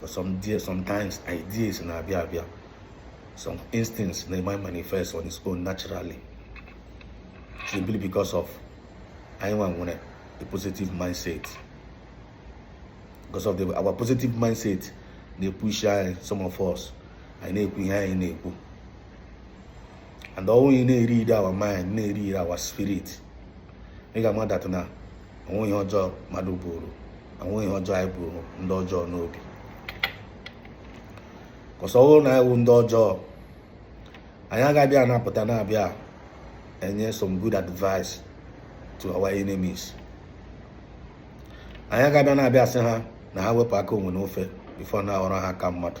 But sometimes ideas na-abịa abịa some instincts na-emanifest on its own naturally simply because of anyị nwa nwere a positive mindset because of the, our positive mindset na-epush anyị some of us anyị na-ekwu ihe anyị na-ekwu and ọ wụrụ ị na-eread our mind na-eread our spirit ị ga-ama that na o nweghị ihe ọjọọ mmadụ buuru o nweghị ihe ọjọọ anyị buuru ndị ọjọọ n'obi 'cause ọ bụrụ na anyị wụ ndị ọjọọ anyị agaghị na-apụta na-abịa enye some good advice to our enemies anyị agaghị na-abịa asị ha na ha wepụ aka enwe n'ofe before na-aghọrọ ha aka mmadụ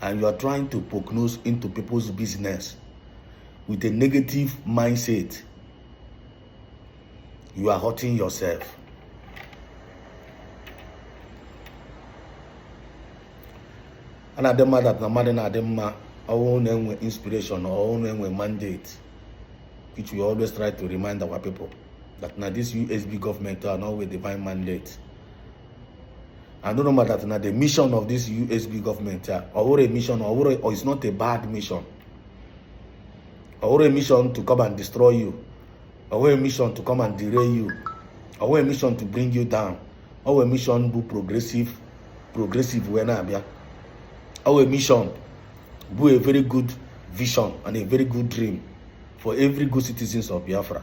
and you are trying to poke nose into people's business with a negative mindset you are hurting yourself a na-adị mma that na mmadụ na-adị mma ọ wụrụ na e nwee inspiration ọ wụrụ na e nwee mandate which we always try to remind our people that na this usb government a nọ with divine mandate and unu mata that na the mission of this USB government a ọ bụghị a mission or it's not a bad mission ọ bụghị a mission to come and destroy you ọ bụghị a mission to come and derail you ọ bụghị a mission to bring you down ọ bụ a mission bu progressive wee na-abịa ọ bụ a mission bụ a very good vision and a very good dream for every good citizens of Biafra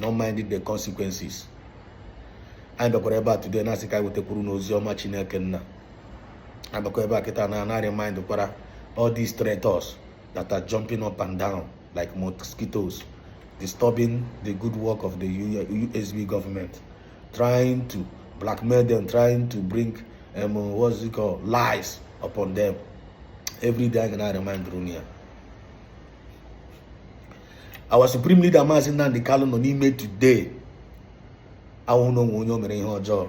not minding the consequences anyị bịakwara ebe a today na-asị ka anyị wetakwuru unu ozi ọma chineke nna abịakwa ebe a kịta na-eremind kwara all these traitors that are jumping up and down like mosquitoes disturbing the good work of the usb government trying to blackmail them trying to bring um, what's it called lies upon them every day anyị ga na-remind unu ya our supreme leader Maazị Nnamdi Kanu nọ n'ime today awụghị na o nwere onye o mere ihe ọjọọ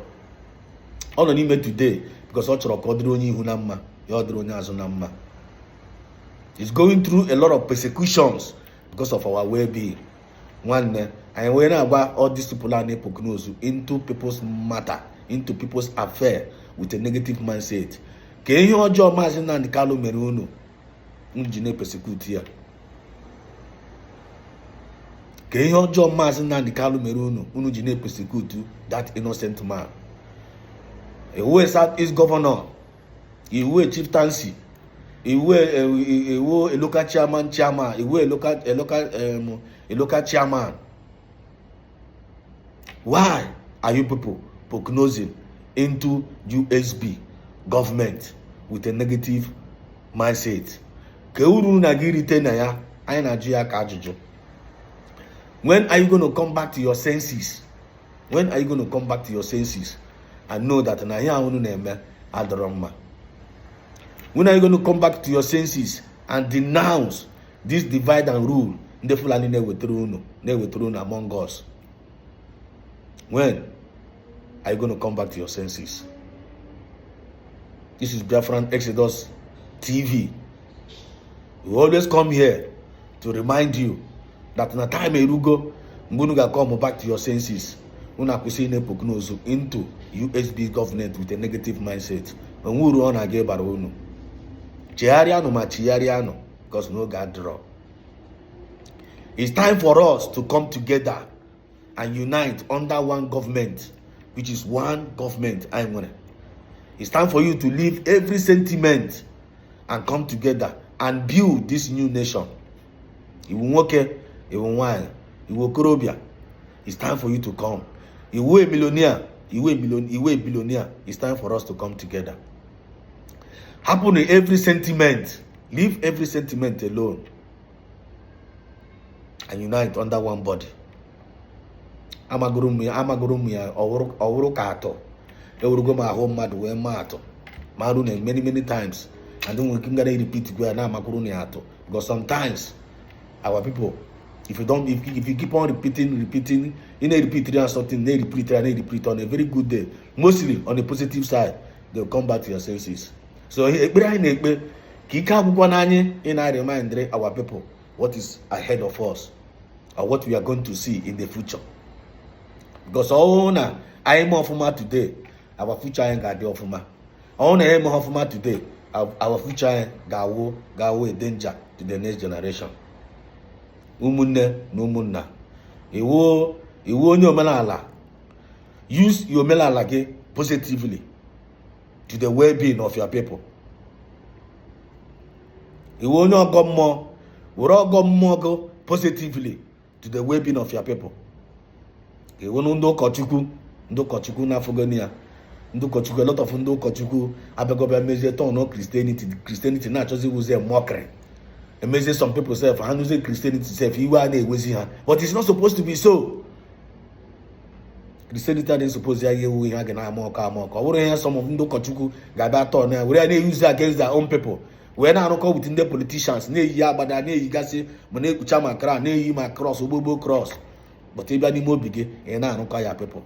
ọ nọ n'ime today because ọ chọrọ ka ọ dịrị onye ihu na mma ya dịrị onye azụ na mma he's going through a lot of persecutions because of our well-being nwanne anyị wee na-agwa all these people a na-epoke nose into people's matter into people's affair with a negative mindset kee ihe ọjọọ maazị Nnamdi Kanu mere unu unu ji na-epersecute ya kee ihe ọjọọ maazị Nnamdi Kanu mere unu unu ji na-epersecute that innocent man ị wụ South East Governor ị wụ chieftaincy ị wụ ị wụ eh, local chairman chairman ị wụ eh, local chairman why are you people prognosing into usb government with a negative mindset kee uru unu ga-erite na ya anyị na-ajụ ya ka ajụjụ when are you going to come back to your senses when are you going to come back to your senses and know that na ihe ahụ unu na-eme adọrọ mma when are you going to come back to your senses and denounce this divide and rule ndị fulani na-ewetara unu among us when are you going to come back to your senses this is biafran exodus tv we always come here to remind you that na time erugo mgbe unu ga-come back to your senses unu akwụsị ị na-epoke nose into usb government with a negative mindset o nwe uru ọ na-aga ịbara unu chegharịanụ ma chigharịanụ because no God draw. It's time for us to come together and unite under one government, which is one government. I want It's time for you to leave every sentiment and come together and build this new nation. Iwu nwoke, iwu nwanyị, iwu okorobịa. It's time for you to come. Iwu a millionaire, iwu a, million, iwu a billionaire. It's time for us to come together. hapụnụ every sentiment leave every sentiment alone and unite under one body amagoro m ya amagoro m ya ọ wụrụ ka atụ ewerego m ahụ mmadụ wee maa atụ maara unu many many times and nwere ike m gara repeat go ya na-amakwuru unu ya atụ because sometimes our people if you don't if, if you keep on repeating repeating ị na-repeatiri ha something na-repeatiri ha na-repeat on a very good day mostly on a positive side they'll come back to your senses so ekpere anyị na-ekpe ka ike agwụkwana anyị ị na-eremindiri our people what is ahead of us or what we are going to see in the future because ọ wụrụ na anyị mee ọfụma today our future anyị ga-adị ọfụma ọ wụrụ na anyị eme ọfụma today our future anyị ga-awụ a danger to the next generation ụmụnne na ụmụnna ị wụ onye omenala use your omenala gị positively to the well-being of your people ị wụ onye ọgọ mmụọ were ọgọ mmụọ gị positively to the well-being of your people ị wụ ndị ụkọchukwu ndị ụkọchukwu unu afụgoni ya ndị ụkọchukwu a lot of ndị ụkọchukwu abịago bịa mezie turn christianity christianity na-achọzi ịwụzi mockery emezie some people sef ha nụzie christianity sef iwe a na-ewezi ha but it's not supposed to be so christianity adịghị suppose ya ga-awụ ihe a ga na-amock amock ọ bụrụ ihe some ndị ụkọchukwu ga-abịa turn ya were ya na-euse against their own people wee na-arụkọ with ndị politicians na-eyi agbada na-eyigasị ma na-ekpucha ma crown na-eyi ma cross ogbogbo cross but ị bịa n'ime obi gị ị na-arụkọ ya people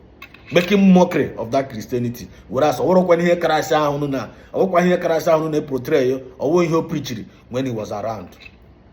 making mockery of that christianity whereas ọ wụrọkwa ihe christ ahụ na-eportray ọ wụrọ ihe o preachiri when he was around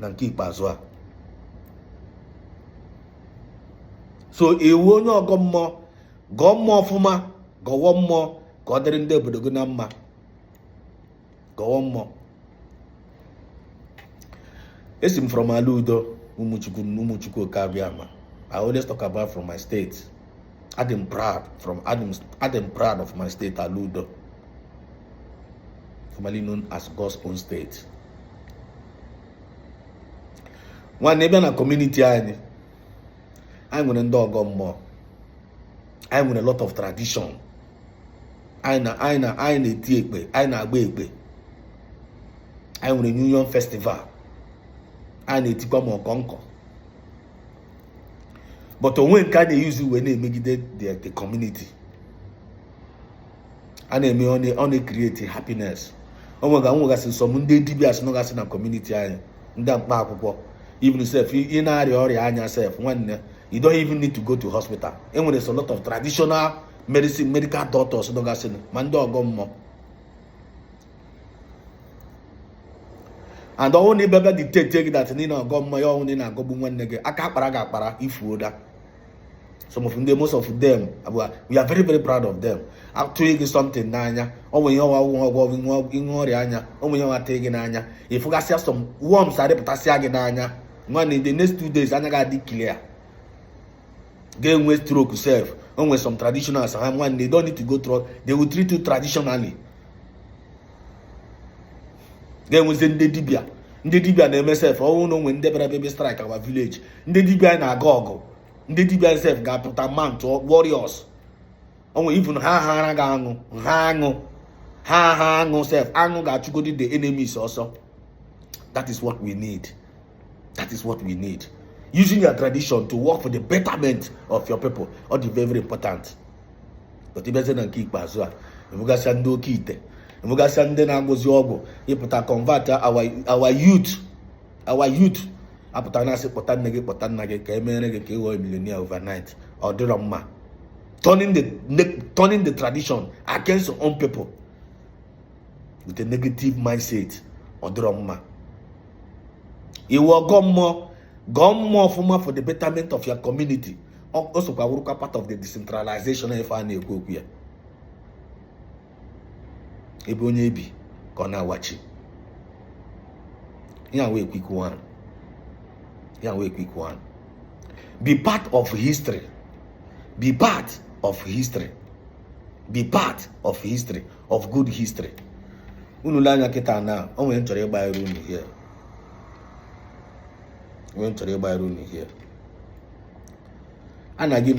na nke ikpeazụ a so ị wụ onye ọgọ mmụọ gọọ mmụọ ọfụma gọwọ mmụọ ka ọ dịrị ndị obodo gị na mma gọwọ mmụọ esi m from ala udo ụmụchukwu ụmụchukwu oke abịama I always talk about from my state adị m proud from adị m proud of my state ala udo formerly known as God's own state nwanne ị bịa na kọmuniti anyị anyị nwere ndị ọgọ mmụọ anyị nwere lot of tradition anyị na-eti ekpe anyị na-agba ekpe anyị nwere new yam festival anyị na-etikwa ma ọkọnkọ but o nwe nke a na-eyuzi wee na-emegide the community a na-eme ọ na-ekreti happiness o nwega nwegasị some ndị dibia sị nọgasị na kọmuniti anyị ndị mkpa akwụkwọ even sef ị na-arịa ọrịa anya sef nwanne you don't even need to go to hospital enweresị lot of traditional medicine medical doctors nọgasị ma ndị ọgọ mmụọ and ọ wụ na ịbịa bịa detect gị that niile ọgọ mmụọ ya ọ wụ na ị na-agọgbu nwanne gị aka akpara gị akpara ifuo da some of them most of them we are very very proud of them atụọ gị something n'anya ọ nwere ihe ọ wụ ọgwụ ọgwụ ihe ọrịa anya ọ nwere ihe ọ wụ atii gị n'anya ịfụgasịa some worms arịpụtasịa gị n'anya nwanne the next two days anya gị adị clear ga-enwe stroke sef o nwere some traditionals ha nwanne they don't need to go through they will treat you traditionally ga-enwezi ndị dibia ndị dibia na-eme sef ọ wụ na o nwe ndị bịara bịa bịa strike our village ndị dibia na-aga ọgụ ndị dibia sef ga-apụta mount warriors onwe even ha hara ga aṅụ ha aṅụ ha ha aṅụ sef aṅụ ga-achụgodi the enemies ọsọ that is what we need. that is what we need using your tradition to work for the betterment of your people ọ dị very important but ị bịazie na nke ikpeazụ a ịfụgasịa ndị oke ite ịfụgasịa ndị na-agwọzi ọgwụ ịpụta convert our youth our youth apụta na-asị kpọta nne gị kpọta nna gị ka emere gị ka ị ghọọ millionaire overnight ọ dịrọ mma turning the turning the tradition against your own people with a negative mindset ọ dịrọ mma ị wụ ọgọ mmụọ gọọ mmụọ ọfụma for the betterment of your community o sokwa wụrụkwa part of the decentralization ife a na-ekwu okwu ya ebe onye ebi ka ọ na-awachi ya wee quick one ya wee quick one be part of history be part of history be part of history of good history unu le anya kịta na o nwere ihe m chọrọ ịgbanyere unu here a na-aga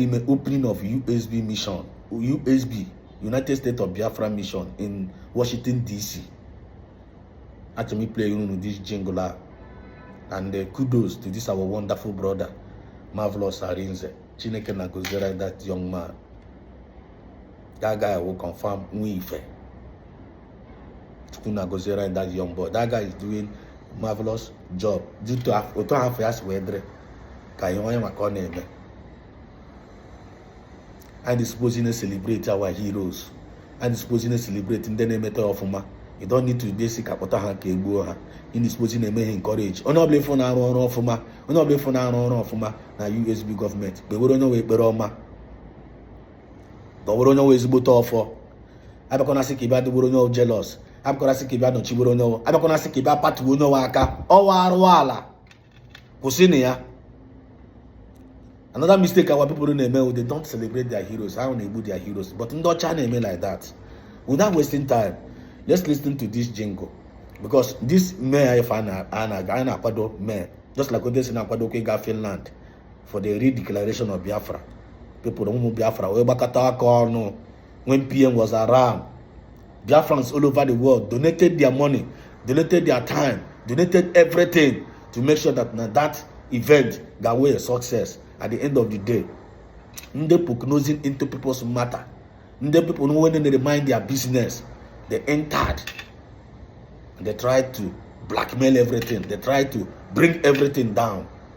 ime opening of USB mission USB United States of Biafra mission in Washington DC achọrọ m iplay unu this jingle a and uh, kudos to this our wonderful brother Marvelous Arinze Chineke nna gọziere that young man that guy wụ confirm nwa ife. Chukwu nna gọziere anyị that young boy. That guy is doing marvelous job. Due to otu afọ ya si wee dịrị ka ihe onye maka ọ na-eme. Anyị suppose ịna-celebrate our heroes. Anyị suppose ịna-celebrate ndị na-emeta ọfụma. You don't need to bịa sị ka akpọta ha ka egbuo ha. Ị suppose ịna-eme ha encourage. Onye ọbụla ị fụ na-arụ ọrụ ọfụma na USB government. Kpewere onye ọwụ ekpere ọma. gọwere onye ọwụ ezigbote ọfọ abịakwana sị ka ị bịa dịgboro onye ọwụ jealous abịakwana sị ka ị bịa nọchigboro onye ọwụ abịakwana sị ka ị bịa patuo onye ọwụ aka ọ wụ arụ ala kwụsịnụ ya another mistake our people na-eme wụ they don't celebrate their heroes ha na-egbu their heroes but ndị ọcha na-eme like that without wasting time let's listen to this jingle because this May a ife a na-akwado May a just like otu esi na-akwado okwu ịga Finland for the redeclaration of Biafra people ụmụ Biafra wee gbakọta aka ọnụ when PM was around Biafrans all over the world donated their money donated their time donated everything to make sure that na that event ga wee success at the end of the day ndị prognosing into people's matter ndị people no when they mind their business they entered they tried to blackmail everything they tried to bring everything down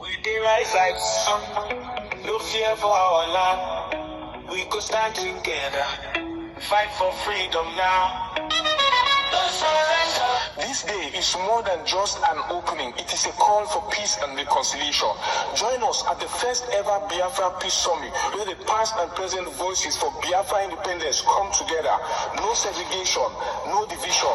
We dey rise like sun, no fear for our land. We go stand together, fight for freedom now. No surrender. This day is more than just an opening, it is a call for peace and reconciliation. Join us at the first ever Biafra Peace Summit, where the past and present voices for Biafra independence come together. No segregation, no division,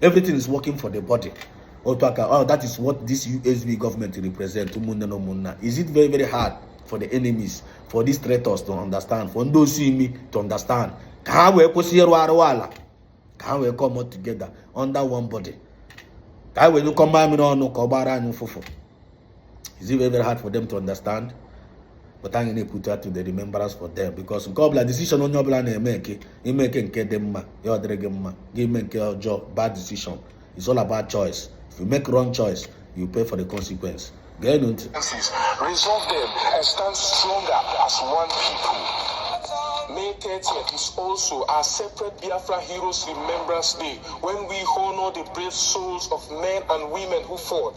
everything is working for the body otu aka oh that is what this USB government represent ụmụnne na ụmụnna is it very very hard for the enemies for these traitors to understand for ndị osi imi to understand ka ha wee kwụsị ịrụ arụ ala ka ha wee come together under one body ka ha wee nyụkọ mmamịrị ọnụ ka ọ gbara anyị ụfụfụ is it very very hard for them to understand but anyị na-ekwute ya to the remembrance for them because nke ọbụla decision onye ọbụla na-eme nke i mee nke nke dị mma ya ọ dịrị gị mma gị i mee nke ọjọọ bad decision it's all about choice if you make wrong choice you pay for the consequence geenụ ntị resolve them and stand stronger as one people May 30th is also our separate Biafra Heroes Remembrance Day when we honor the brave souls of men and women who fought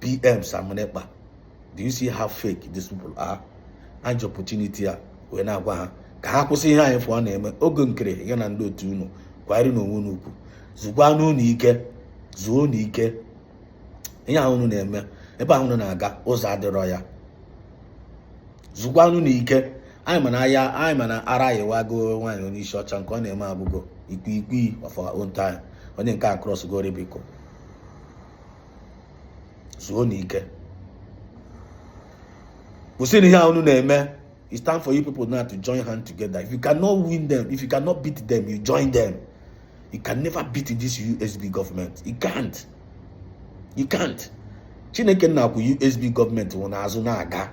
PM Simon Ekpa do you see how fake these people are eji m opportunity a wee na-agwa ha ka ha kwụsị ihe anyị fụ ọ na-eme Oge Nkere ya na ndị otu unu kwanyerenụ onwe unu ugwu zukwanụ unu ike zuo unu ike ihe ahụ unu na-eme ebe ahụ unu na-aga ụzọ adịrọ ya zukwanụ unu ike anyị ma anyị ma na ara ayịwago nwaanyị onye isi ọcha nke ọ na-eme abụgo ikwikwii of our own time onye nke a crossgo Rubicon zuonụ ike kwụsịnụ ihe ahụ unu na-eme it's time for you people now to join hand together if you cannot win them if you cannot beat them you join them you can never beat this usb government you can't you can't chineke nna kwụ usb government ahụ n'azụ na-aga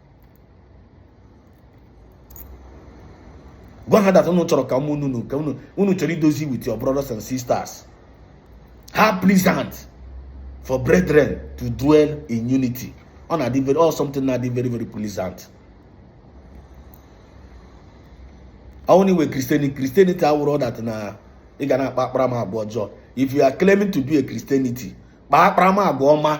gwa ha that unu chọrọ ka ụmụ unu ka unu unu chọrọ idozi with your brothers and sisters how pleasant for brethren to dwell in unity ọ wụ something na-adị very very pleasant ọ wụnụ ihe wụ christianity awụrụ that na ị ga na-akpa akparamagwa ọjọọ if you are claiming to be a christianity kpaa akparamagwa ọma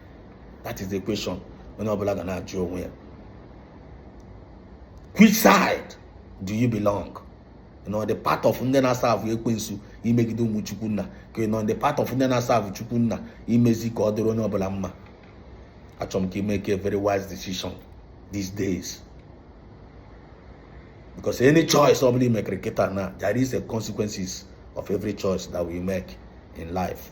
that is the question onye ọbụla ga na-ajụ onwe ya which side do you belong nọ the part of ndị na-aserve ekwensu imegide ụmụ chukwu nna ka nọ the part of ndị na-aserve chukwu nna imezi ka ọ dịrị onye ọbụla mma achọrọ m ka ị make a very wise decision these days because any choice ọbụla ị makere kịta na there is a consequences of every choice that we make in life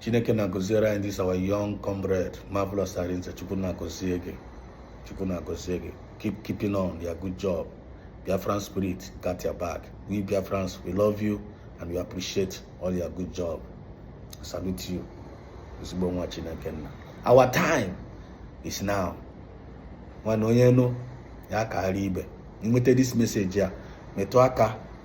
chineke nna gọziere anyị this our young comrade marvelous arinzechukwu chukwu nna gọzie gị keep keeping on your good job biafran spirit got your back we biafrans we love you and we appreciate all your good job salute you ezigbo nwa chineke nna our time is now nwanna onye nụ ya kaara ibe i nweta this message a metụ aka